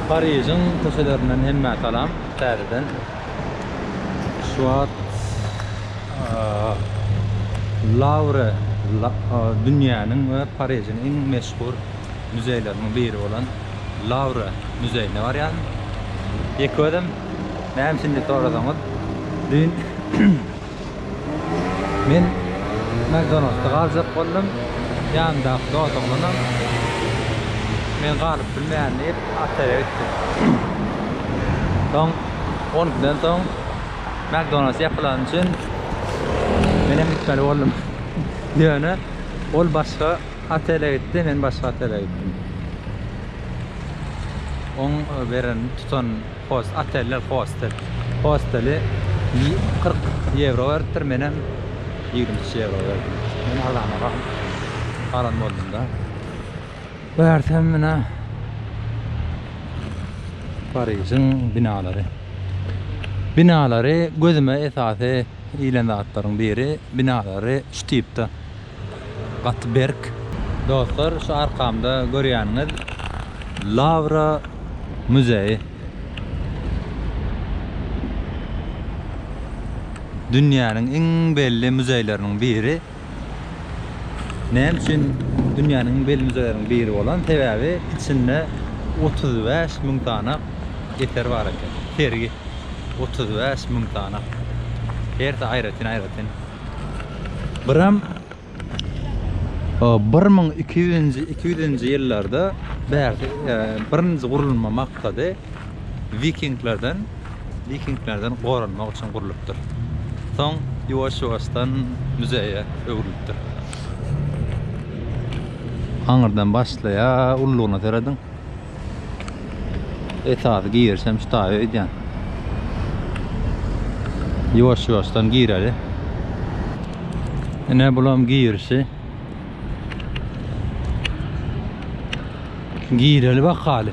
Parižiň köçelerinden hemmä salam täzeden. Şu wagt Lawre dünýäniň we Parižiň iň meşhur müzeýleriniň biri bolan Lawre müzeýine barýan. Ýeke özüm näme üçin diýip sorasaňyz, düýn Men McDonalds-da galjak boldum. Ýanymdaky dos oglanam Men galyp bilmeýän diýip, otele gitdi. Soň on ikiden soň McDonalds ýapylany üçin menem gitmeli boldum. Ýöne ol başga otele gitdi, men başga otele gitdim. Oň beren tutan Host, oteller, hostel. Hosteli kyrk ýewro beripdir, menem ýigrimi üç ýewro berdim. Men arzanara alan boldum-da. Görsem menä Parižiň binalary. Binalary gözüme esasy ilen zatlaryň biri, binalary şu tipde. gaty berk. Dostlar şu arkamda görýäniňiz Lawra muzeýi. Dünýäniň iň belli muzeýleriniň biri. Näme üçin dünýäniň iň belli muzeýleriniň biri bolan? Sebäbi içinde otuz bäş müň sany eser bar eken. Sergi otuz bäş müň sany. Hersi aýratyn-aýratyn. Biram o 1200-nji, 200-nji ýyllarda bärde e, birinji gurulma maksady vikinglerden vikinglerden goranmak üçin gurlupdyr. Soň ýuwaş-ýuwaşdan müzeýe öwrülipdir. Aňyrdan başlaýar, ullugyna serediň. Esasy giriş hem şu taýy öýdýän. Ýuwaş-ýuwaşdan gireli. Ine bulam girişi. Gireli bakaly.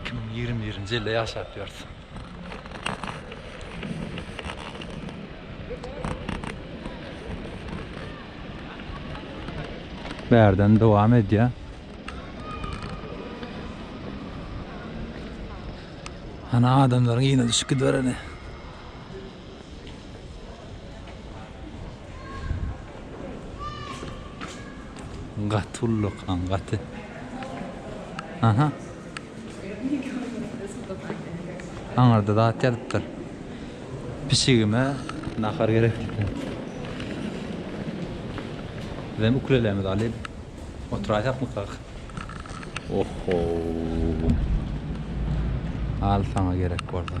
Iki müň ýigrimi birinji ýylda ýaşap ýörüs. Bärden dowam edýär. Ana adamlaryň yna düşüp gidibereni. Gaty ullakan gaty. Aha. Aňyrda zat ýazypdyr. Pişigime nahar gerek diýipdir. Bizem ukulelemizi alyp oturaýsakmykak? Oho. Al saňa gerek bolsa.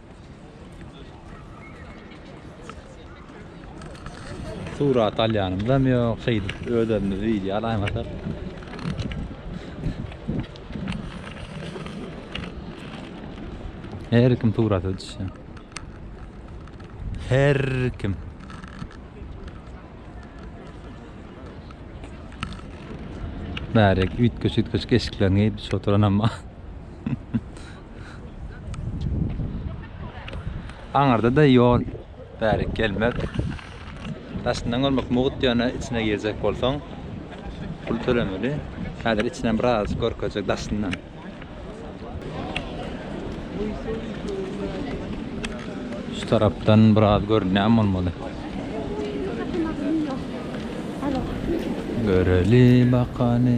Surat alýanymyzam ýok, şeýdip özlerimiz wideo alaýmasak. Her kim surata düşýär. Her kim. Bärek üýtgeşik-üýtgeşik eşiklerini geýip oturanam bar. Aňyrda-da ýol bärik gelmez. Daşyndan görmek mugt, ýöne içine girjek bolsaň, pul tölemeli. Häzir içinden biraz görkezjek, daşyndan. Şu tarapdan biraz görünýän bolmaly. Göreli bakany.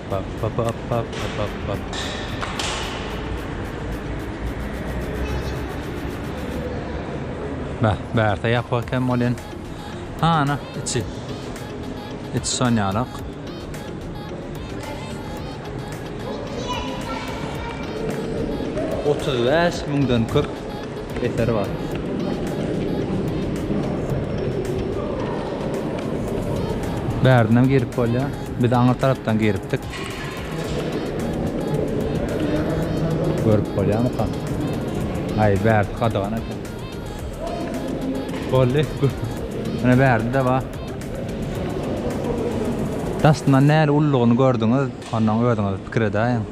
Beh, bärde ýapyk eken welin, hany, içi. Içi şon ýalak. Otuz bäş müňden köp. eseri bar. Bärden girip bolýar. Biz aňyr tarapdan giripdik. Görüp bolýarmyka? Aý, bärsi gadagan eken. Boldy. Ine bärde-de bar. Daşyndan näli ululygyny gördüňiz? Ondan özüňiz pikir edäýiň.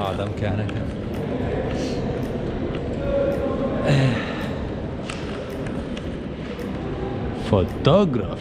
Adam kän eken. Fotograf.